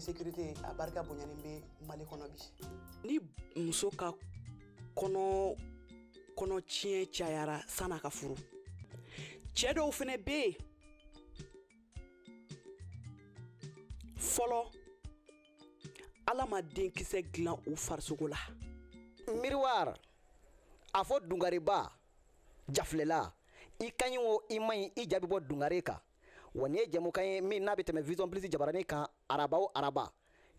insécurité a barika bonyani bɛ mali kɔnɔ bi ni muso ka kɔnɔ kɔnɔtiɲɛ cayara san'a ka furu cɛ dɔw fɛnɛ bɛ yen fɔlɔ ala ma denkisɛ dilan u farisogo la miroir a fɔ dungareba jafilɛla i ka ɲi o i man ɲi i ja bɛ bɔ dungare kan wa nin ye jɛmukan ye min n'a bɛ tɛmɛ vision plus jabaranin kan araba o araba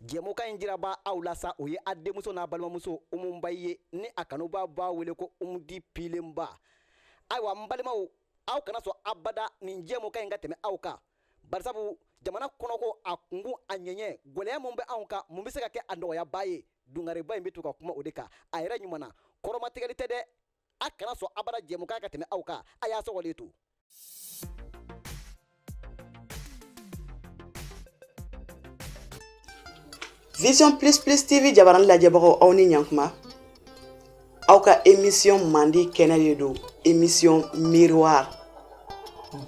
jɛmukan in jiraba aw la sa o ye a denmuso n'a balimamuso umu ba ye ni a kanubaa b'a wele ko umudi pilenba ayiwa n balimaw aw kana sɔn abada nin jɛmukan in ka tɛmɛ aw kan barisabu jamana kɔnɔko a kungun a ɲɛɲɛ gwɛlɛya min bɛ anw kan mun bɛ se ka kɛ a nɔgɔyaba ye dungareba in bɛ to ka kuma o de kan a yɛrɛ ɲuman na kɔrɔmatigɛli tɛ dɛ a kana sɔn abada jɛmukan ka tɛmɛ aw kan a y'a sɔgɔlen to Vision plus plus TV jabarani lajɛbagaw aw ni ɲantuma aw ka émission mandi kɛnɛ de don émission miroir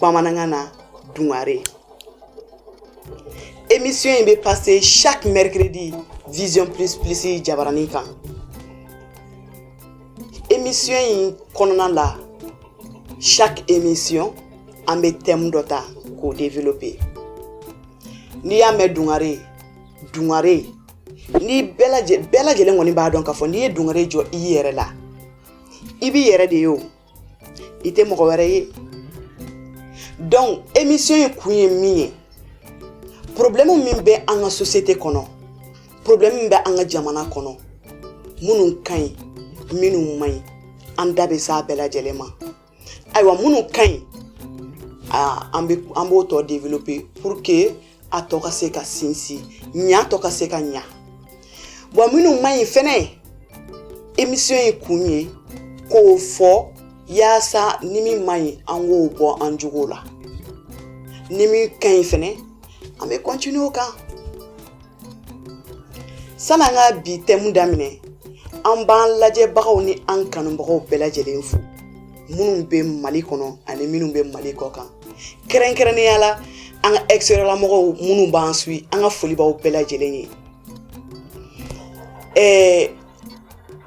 bamanankan na dungare émission in bɛ passer chaque mercredi Vision plus plus jabarani kan émission in kɔnɔna la chaque émission an bɛ thème dɔ ta k'o développer n'i y'a mɛn dungare dungare ni bɛɛ lajɛlen bɛɛ lajɛlen kɔni b'a dɔn k'a fɔ n'i ye dungare jɔ i yɛrɛ la i b'i yɛrɛ de ye o i tɛ mɔgɔ wɛrɛ ye donc émission in kun ye min ye problème min bɛ an ka société kɔnɔ problème min bɛ an ka jamana kɔnɔ minnu ka ɲi minnu man ɲi an da bɛ s'a bɛɛ lajɛlen ma ayiwa minnu ka ɲi an bɛ an b'o tɔ développer pour que a tɔ ka se ka sinsin a tɔ ka se ka ɲa bon minnu man ɲi fɛnɛ émission in kun ye k'o fɔ yaasa ni min man ɲi an k'o bɔ an jogo la ni min ka ɲi fɛnɛ an bɛ continuer o kan San'an ka bi thème daminɛ an b'an lajɛbagaw ni an kanubagaw bɛɛ lajɛlen fo minnu bɛ mali kɔnɔ ani minnu bɛ mali kɔkan kɛrɛnkɛrɛnnenya la an ka extérieur la mɔgɔw minnu b'an suivre an ka foli b'aw bɛɛ lajɛlen ye ɛɛ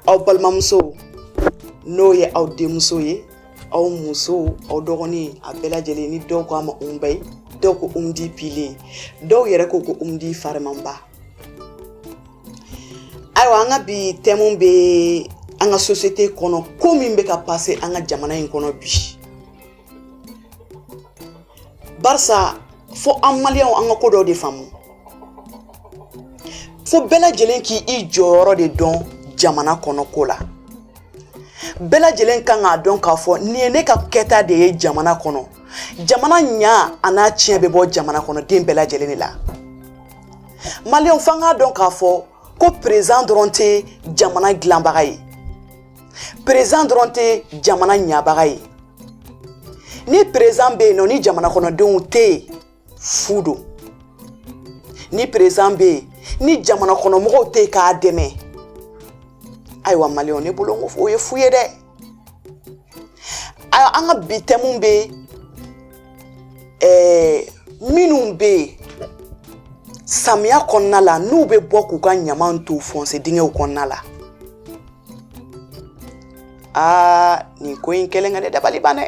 aw balimamuso n'o ye aw denmuso ye aw musow aw dɔgɔnin a bɛɛ lajɛlen ni dɔw ko a ma umba ye dɔw ko umu di pilen dɔw yɛrɛ ko ko umu di farimanba ayiwa an ka bi tɛmu bɛ an ka sosiyete kɔnɔ ko min bɛ ka pase an ka jamana in kɔnɔ bi barisa fo an maliyɛnw an ka ko dɔw de faamu fo bɛɛ lajɛlen k'i jɔyɔrɔ de dɔn jamana kɔnɔ ko la bɛɛ lajɛlen kan k'a dɔn k'a fɔ nin ye ne ka kɛta de ye jamana kɔnɔ jamana ɲa an'a tiɲɛ bɛ bɔ jamana kɔnɔden bɛɛ lajɛlen de la maliyɛnw f'an k'a dɔn k'a fɔ ko perezan dɔrɔn tɛ jamana dilanbaga ye perezan dɔrɔn tɛ jamana ɲabaga ye ni perezan bɛ yen nɔ ni jamana kɔnɔdenw tɛ yen fu don ni perezan bɛ yen ni jamana kɔnɔ mɔgɔw tɛ yen k'a dɛmɛ ayiwa maliyɛnw ne bolo ko o ye fu ye dɛ ayiwa an ka bi tɛmu bɛ ɛɛ minnu bɛ yen samiya kɔnɔna la n'u bɛ bɔ k'u ka ɲaman to fɔnse dingɛw kɔnɔna la aa nin ko in kelen ka ne dabali ban dɛ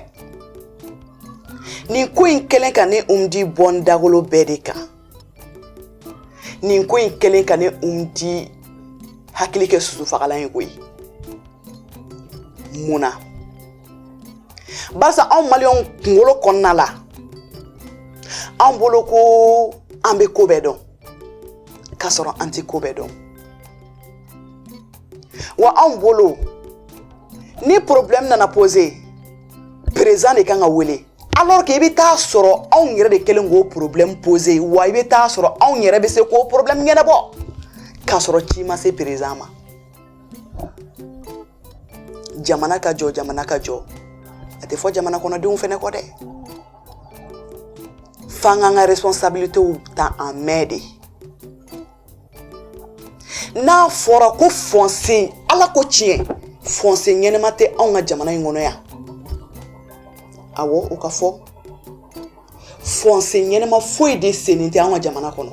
nin ko in kelen ka ne umu di bɔ n dagolo bɛɛ de kan nin ko in kelen ka ne umu di hakili kɛ sosofagalan ye koyi mun na barisa anw maliyɛnw kunkolo kɔnɔna la an bolo ko an bɛ ko bɛɛ dɔn k'a sɔrɔ an tɛ ko bɛɛ dɔn wa anw bolo ni problème nana poser président de kan ka wele alors que i bɛ taa sɔrɔ anw yɛrɛ de kɛlen k'o problème poser wa i bɛ taa sɔrɔ anw yɛrɛ bɛ se k'o problème ɲɛnabɔ k'a sɔrɔ ci ma se président ma jamana ka jɔ jamana ka jɔ a tɛ fɔ jamana kɔnɔdenw fɛnɛ kɔ dɛ f'an k'an ka responsabilités ta an mɛn de n'a fɔra ko fɔnse ala ko tiɲɛ fɔnse ɲɛnama tɛ anw ka jamana in kɔnɔ yan awɔ o ka fɔ fɔnse ɲɛnama foyi de sennen tɛ anw ka jamana kɔnɔ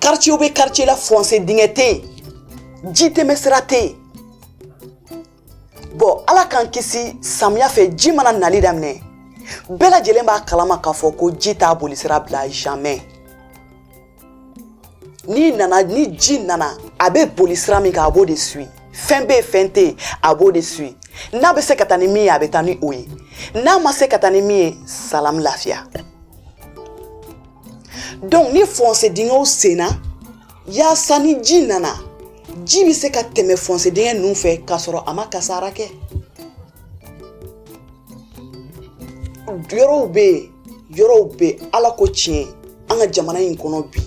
karicew bɛ karice la fɔnse dingɛ tɛ yen ji tɛmɛ sira tɛ yen bɔn ala k'an kisi samiya fɛ ji mana nali daminɛ bɛɛ lajɛlen b'a kalama k'a fɔ ko ji t'a bolisira bila jamais n'i nana ni ji nana a bɛ boli sira min kan a b'o de suwi fɛn bɛ yen fɛn tɛ yen a b'o de suwi n'a bɛ se ka taa ni min ye a bɛ taa ni o ye n'a ma se ka taa ni min ye salamu lafiya donc ni fɔnse dingɛw senna yaasa ni ji nana ji bɛ se ka tɛmɛ fɔnse dingɛ ninnu fɛ k'a sɔrɔ a ma kasara kɛ yɔrɔw bɛ yen yɔrɔw bɛ ala ko tiɲɛ an ka jamana in kɔnɔ bi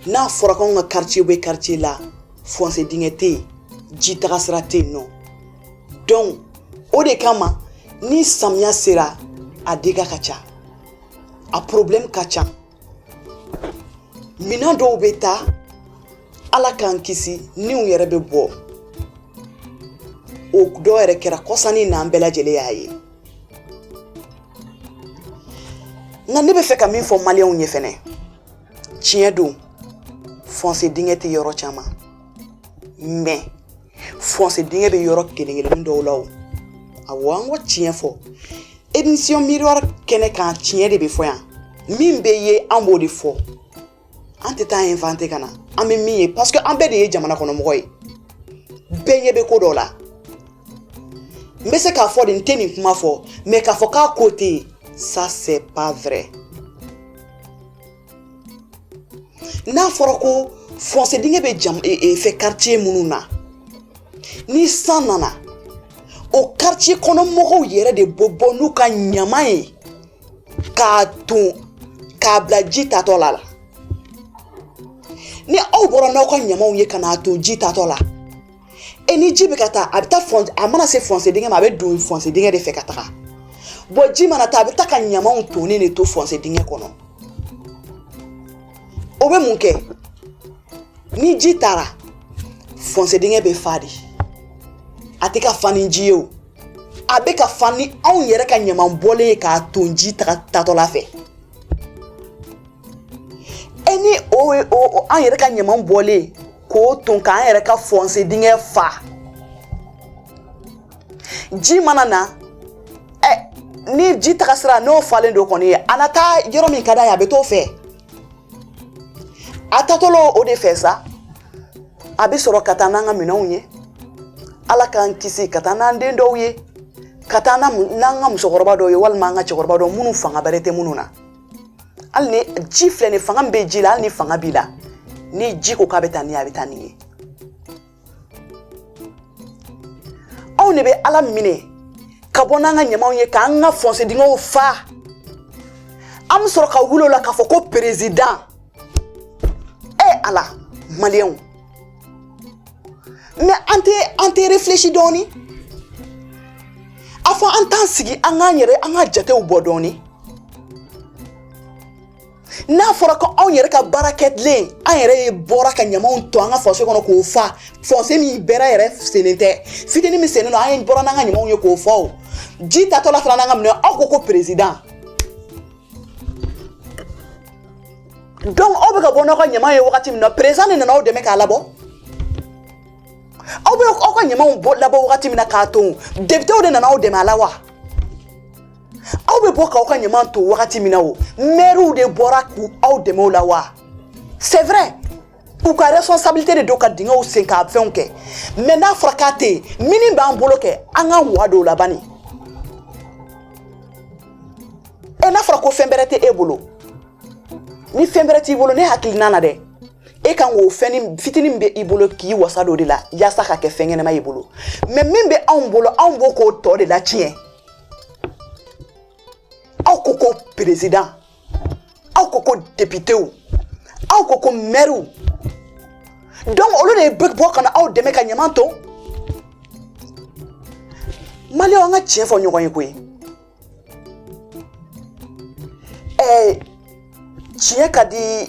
n'a fɔra k'anw ka quartier bɛ quartier la fɔnse dingɛ tɛ yen ji tagasira tɛ yen nɔ dɔnku o de kama ni samiya sera a dega ka ca a porobilɛmu ka ca minɛn dɔw bɛ taa ala k'an kisi niw yɛrɛ bɛ bɔ o dɔw yɛrɛ kɛra kɔsa nin na an bɛɛ lajɛlen y'a ye nka ne bɛ fɛ ka min fɔ maliyɛnw ye fɛnɛ tiɲɛ don fɔnse dingɛ tɛ yɔrɔ caman mɛ fɔnse dingɛ bɛ yɔrɔ kelen-kelennin dɔw la o awɔ an k'o tiɲɛ fɔ émission miroir kɛnɛ kan tiɲɛ de bɛ fɔ yan min bɛ ye an b'o de fɔ an tɛ taa inventer ka na an bɛ min ye parce que an bɛɛ de ye jamana kɔnɔmɔgɔ ye bɛɛ ɲɛ bɛ ko dɔ la n bɛ se k'a fɔ de n tɛ nin kuma fɔ mais k'a fɔ k'a ko tɛ yen ça c'est pas vrai n'a fɔra ko fɔnse dingɛ bɛ jam e, e, fɛ quartier minnu na ni san nana o quartier kɔnɔ mɔgɔw yɛrɛ de bɛ bɔ n'u ka ɲaman ye k'a ton k'a bila ji taatɔ la la ni aw bɔra n'aw ka ɲamanw ye ka n'a ton ji taatɔ la e ni ji bɛ ka taa a bɛ taa a mana se fɔnse dingɛ ma a bɛ don fɔnse dingɛ de fɛ ka taga bɔn ji mana taa a bɛ taa ka ɲamanw tonnen de to fɔnse dingɛ kɔnɔ o bɛ mun kɛ ni ji taara fɔnse dingɛ bɛ fa de a tɛ ka fa ni ji ye o a bɛ ka fa ni anw yɛrɛ ka ɲaman bɔlen ye k'a ton ji taga taatɔla fɛ e ni o o an yɛrɛ ka ɲaman bɔlen k'o ton k'an yɛrɛ ka fɔnse dingɛ fa ji mana na ɛ ni ji taga sira n'o falen don kɔni a na taa yɔrɔ min ka d'a ye a bɛ t'o fɛ a taatɔla o de fɛ sa a bɛ sɔrɔ ka taa n'an ka minɛnw ye ala k'an kisi ka taa n'an den dɔw ye ka taa n'an ka musokɔrɔba dɔw ye walima an ka cɛkɔrɔba dɔw minnu fanga bɛrɛ tɛ minnu na hali ni ji filɛ nin fanga min bɛ ji la hali ni fanga b'i la ni ji ko k'a bɛ taa n'i ye a bɛ taa n'i ye anw de bɛ a daminɛ ka bɔ n'an ka ɲamanw ye k'an ka fɔnse dingɛw fa an bɛ sɔrɔ ka wuli o la k'a fɔ ko perezidan e ala maliyɛnw an tɛ an tɛ refilɛsi dɔɔni a fɔ an t'an sigi an k'an yɛrɛ an ka jatew bɔ dɔɔni n'a fɔra ko anw yɛrɛ ka baara kɛlen an yɛrɛ ye bɔra ka ɲamaw ton an ka fɔse kɔnɔ k'o fa fɔse min bɛrɛ yɛrɛ sennen tɛ fitinin min sennen don an ye bɔra n'an ka ɲamaw ye k'o fa o ji tatɔla fana nana minɛ aw ko ko perezidan donc aw bɛ ka bɔ n'aw ka ɲama ye wagati min na perezidan de nana aw dɛmɛ k'a labɔ aw bɛ aw ka ɲamaw bɔ labɔ wagati min na k'a ton depitew de nana aw dɛmɛ a la wa aw bɛ bɔ k'aw ka ɲama ton wagati min na o mɛriw de bɔra k'aw dɛmɛ o la wa c'est vrai u ka responsabilité de don ka dingɛw sen ka fɛnw kɛ mɛ n'a fɔra k'a tɛ yen minnin b'an bolo kɛ an k'an wa don o la bani ɛ n'a fɔra ko fɛn bɛrɛ tɛ e bolo ni fɛn bɛrɛ t'i bolo ne hakilina na dɛ e kan k'o fɛn fitinin min bɛ i bolo k'i wasa d'o de la yaasa k'a kɛ fɛn ɲɛnama y'i bolo mɛ min bɛ anw bolo anw bɔ k'o tɔ de latiɲɛ aw ko ko perezidan aw ko ko depitew aw ko ko mɛriw donc olu de bɛ bɔ ka na aw dɛmɛ ka ɲaman ton maliyɛnw an ka tiɲɛ fɔ ɲɔgɔn ye koyi Ɛɛ tiɲɛ ka di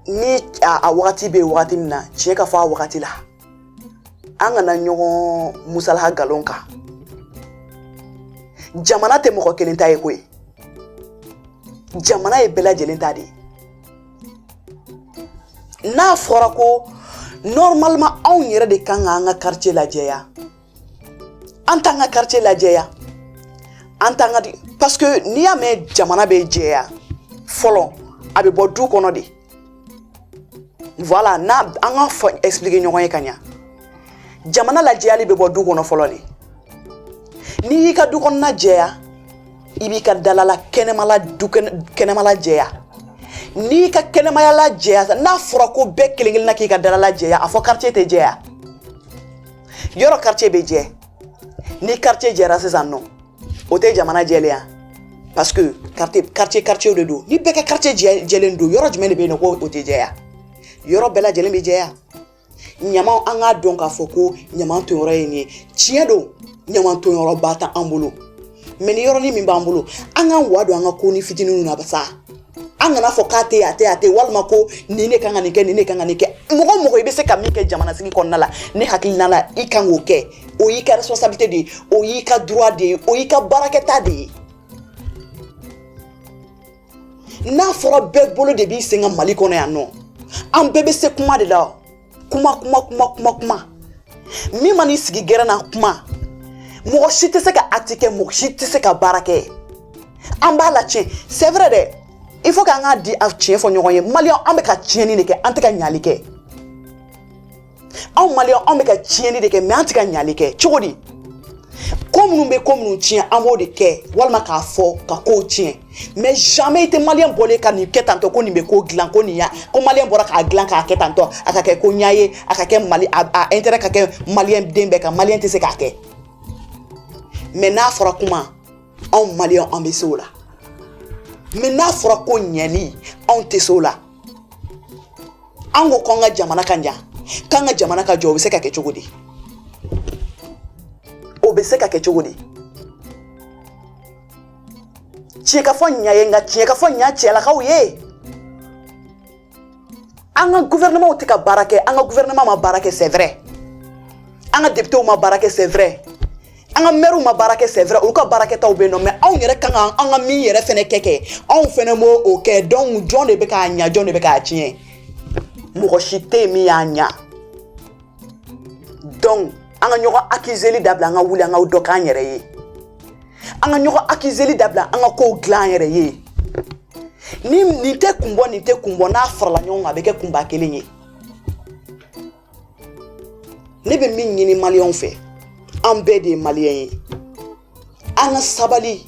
ni a wagati bɛ wagati min na tiɲɛ ka fɔ a wagati la an kana ɲɔgɔn musalaka nkalon kan jamana tɛ mɔgɔ kelen ta ye koyi jamana ye bɛɛ lajɛlen ta de ye n'a fɔra ko normalement anw yɛrɛ de kan ka an ka karitiye lajɛya an t'an ka karitiye lajɛya an t'an ka parce que n'i y'a mɛn jamana bɛ jɛya fɔlɔ a bɛ bɔ du kɔnɔ de voilà n'a an k'a fɔ expliquer ɲɔgɔn ye ka ɲa jamana lajɛyali bɛ bɔ du kɔnɔ fɔlɔ de n'i y'i ka du kɔnɔna jɛya i b'i ka dalala kɛnɛmala du kɛnɛmala jɛya n'i ka kɛnɛmaya la jɛya n'a fɔra ko bɛɛ kelen kelenna k'i ka dalala jɛya a fɔ quartier tɛ jɛya yɔrɔ karitiye bɛ jɛ ni karitiye jɛra sisan nɔ o tɛ jamana jɛlen ye parce que karitiye karitiye karitiyew de don ni bɛɛ ka karitiye jɛ jɛlen don yɔrɔ jumɛn de bɛ yen nɔ ko o tɛ jɛya yɔrɔ bɛɛ lajɛlen bɛ jɛya ɲamanw an k'a dɔn k'a fɔ ko ɲaman tonyɔrɔ ye nin ye tiɲɛ don ɲaman tonyɔrɔba t'an bolo mɛ nin yɔrɔnin min b'an bolo an k'an wa don an ka konin fitinin na sa an kana fɔ k'a tɛ a tɛ a tɛ walima ko nin de kan ka nin kɛ nin de kan ka nin kɛ mɔgɔ o mɔgɔ i bɛ se ka min kɛ jamanasigi kɔnɔna la ne hakilina la i kan k'o kɛ o y'i ka responsabilité de ye o y'i ka droit de ye o y'i ka baarakɛta de ye n'a fɔra bɛɛ bolo de b'i sen kan mali kɔnɔ yan nɔ an bɛɛ bɛ se kuma de la kuma kuma kuma kuma kuma min man'i sigi gɛrɛn na kuma mɔgɔ si tɛ se ka acte kɛ mɔgɔ si tɛ se ka baara kɛ an b'a la tiɲɛ c'est vrai dɛ il faut k'an ka di a tiɲɛ fɔ ɲɔgɔn ye maliyɛn an bɛ ka tiɲɛni de kɛ an tɛ ka ɲali kɛ anw maliyɛn anw bɛ ka tiɲɛni de kɛ mɛ an tɛ ka ɲali kɛ cogo di ko minnu bɛ ko minnu tiɲɛ an b'o de kɛ walima k'a fɔ ka kow tiɲɛ mɛ jamais i tɛ maliyɛn bɔlen ye ka nin kɛ tantɔ ko nin bɛ ko dilan ko nin ya ko maliyɛn bɔra k'a dilan k'a kɛ tantɔ a ka kɛ ko ɲa ye a ka kɛ mali a a intérêt ka kɛ maliyɛn den bɛɛ kan maliyɛn tɛ se k'a kɛ mɛ n'a fɔra kuma anw maliyɛn an bɛ se o la mɛ n'a fɔra ko ɲɛli anw tɛ se o la an ko k'an ka jamana ka ɲa k'an ka jamana ka jɔ o bɛ se ka kɛ cogo di o bɛ se ka kɛ cogo di. tiɲɛ ka fɔ ɲa ye nka tiɲɛ ka fɔ ɲa cɛlakaw ye an ka gouvernementw tɛ ka baara kɛ an ka gouvernement ma baara kɛ c'est vrai an ka députés ma baara kɛ c'est vrai an ka mɛriw ma baara kɛ c'est vrai olu ka baara kɛtaw bɛ yen nɔ mɛ anw yɛrɛ ka kan ka min yɛrɛ fɛnɛ kɛ kɛ anw fɛnɛ m'o kɛ donc jɔn de bɛ k'a ɲa jɔn de bɛ k'a tiɲɛ mɔgɔ si tɛ yen min y'a ɲa donc an ka ɲɔgɔn akizeli dabila an ka wuli an ka dɔ k'an yɛrɛ ye an ka ɲɔgɔn akizeli dabila an ka kow dilan an yɛrɛ ye ni nin tɛ kun bɔ nin tɛ kun bɔ n'a farala ɲɔgɔn kan a bɛ kɛ kunba kelen ye ne bɛ min ɲini maliyɛnw fɛ an bɛɛ de ye maliyɛn ye an ka sabali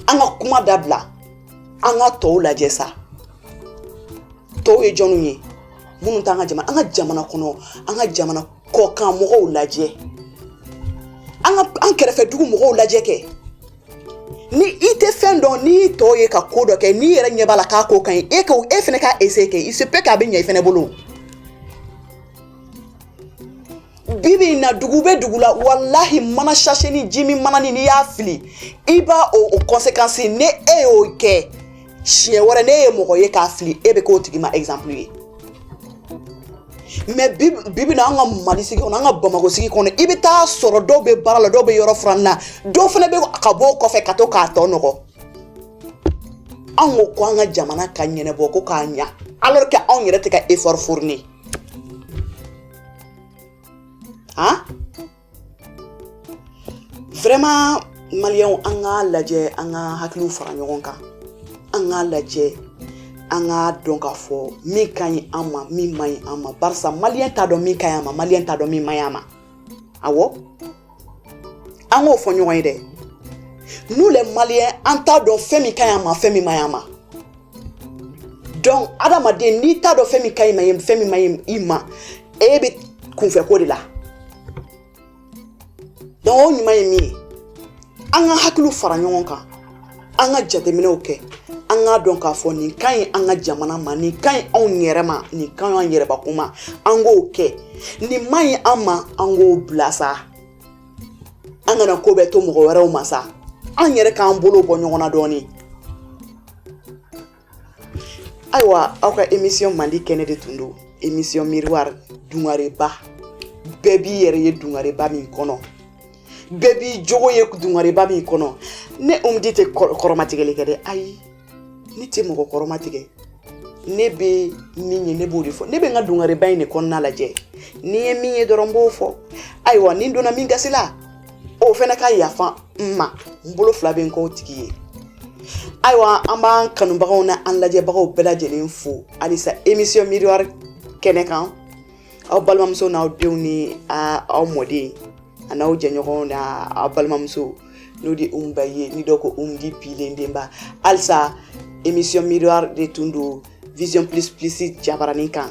an ka kuma dabila an ka tɔw lajɛ sa tɔw ye jɔnw ye minnu t'an ka jamana an ka jamana kɔnɔ an ka jamana kɔkan mɔgɔw lajɛ an ka an kɛrɛfɛ dugu mɔgɔw lajɛ kɛ ni i tɛ fɛn dɔn n'i ye tɔw ye ka ko dɔ kɛ n'i yɛrɛ ɲɛ b'a la k'a ko ka ɲi e ka e fana k'a essai kɛ il se peut k'a bɛ ɲɛ i fana bolo bi bi in na dugu bɛ dugu la walahi mana sasenin ji min mananin n'i y'a fili i b'a o o kɔnsekansi n'e y'o kɛ siɲɛ wɛrɛ n'e ye mɔgɔ ye k'a fili e bɛ k'o tigi ma ɛgizanpulu ye mɛ bi bi in na an ka mali sigi kɔnɔ an ka bamakɔ sigi kɔnɔ i bɛ taa sɔrɔ dɔw bɛ baara la dɔw bɛ yɔrɔ furan na dɔw fana bɛ ka bɔ o kɔfɛ ka to k'a tɔ nɔgɔ anw ko ko an ka jamana ka ɲɛnabɔ ko k'a ɲa alors que anw yɛrɛ tɛ ka effort fourni a vraiment maliyɛnw an k'a lajɛ an ka hakiliw fara ɲɔgɔn kan an k'a lajɛ an k'a dɔn k'a fɔ min ka ɲi an ma min man ɲi an ma barisa maliyɛn t'a dɔn min ka ɲi a ma maliyɛn t'a dɔn min man ɲi a ma awɔ an k'o fɔ ɲɔgɔn ye dɛ nous les maliens an t'a dɔn fɛn min ka ɲi an ma fɛn min man ɲi an ma donc adamaden n'i t'a dɔn fɛn min ka ɲi i ma fɛn min man ɲi i ma e bɛ kunfɛ ko de la donc o ɲuman ye min ye an ka hakiliw fara ɲɔgɔn kan an ka jateminɛw kɛ an k'a dɔn k'a fɔ nin ka ɲi an ka jamana ma nin ka ɲi anw yɛrɛ ma nin ka ɲi an yɛrɛbakun ma an k'o kɛ nin man ɲi an ma an k'o bila sa an kana ko bɛɛ to mɔgɔ wɛrɛw ma sa an yɛrɛ k'an bolo bɔ ɲɔgɔn na dɔɔnin ayiwa aw ka émission mandi kɛnɛ de tun don émission miroir dungareba bɛɛ b'i yɛrɛ ye dungareba min kɔnɔ bɛɛ b'i jogo ye dungareba min kɔnɔ ne umudi tɛ kɔrɔmatigɛli kɛ dɛ ayi ne tɛ mɔgɔ kɔrɔmatigɛ ne bɛ min ye ne b'o de fɔ ne bɛ n ka dungareba in de kɔnɔna lajɛ ni n ye min ye dɔrɔn n b'o fɔ ayiwa ni n donna min gasi la o fana ka yafa n ma n bolo fila bɛ n kɔ o tigi ye ayiwa an b'an kanubagaw n'an lajɛbagaw bɛɛ lajɛlen fo halisa émission miroir kɛnɛ kan aw balimamuso n'aw denw ni aw mɔden a n'aw jɛɲɔgɔnw na aw balimamuso n'o de umu ba ye ni dɔ ko umudi pilen denba halisa émission miroir de tun don vision plus plus jabaranin kan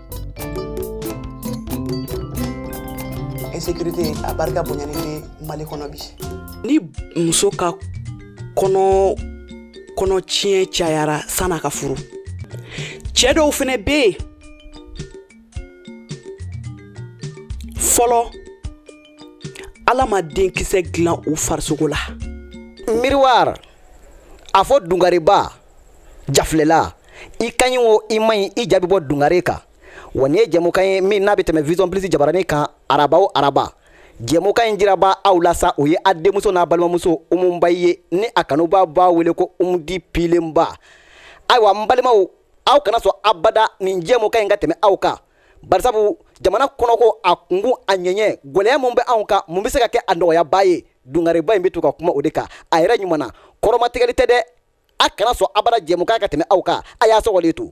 insécurité a barika bonyani bɛ mali kɔnɔ bi ni muso ka kɔnɔ kɔnɔ tiɲɛ cayara san'a ka furu cɛ dɔw fɛnɛ bɛ yen fɔlɔ ala ma denkisɛ dilan u farisogo la miroir a fɔ dungareba jafilɛlan i ka ɲi o i man ɲi i ja bɛ bɔ dungare kan wa nin ye jɛmukan ye min n'a bɛ tɛmɛ vision plus jabaranin kan araba o araba jɛmukan in jirabaa aw la sa o ye a denmuso n'a balimamuso umu ba ye ni a kanubaa b'a wele ko umudi pilenba ayiwa n balimaw aw kana sɔn abada nin jɛmukan in ka tɛmɛ aw kan barisabu jamana kɔnɔko a kunkun a ɲɛɲɛ gwɛlɛya min bɛ anw kan mun bɛ se ka kɛ a nɔgɔyabaa ye dungareba in bɛ to ka kuma o de kan a yɛrɛ ɲuman na kɔrɔmatigɛli tɛ dɛ a kana sɔn abada jɛmukan ka tɛmɛ aw kan a y'a sɔgɔlen to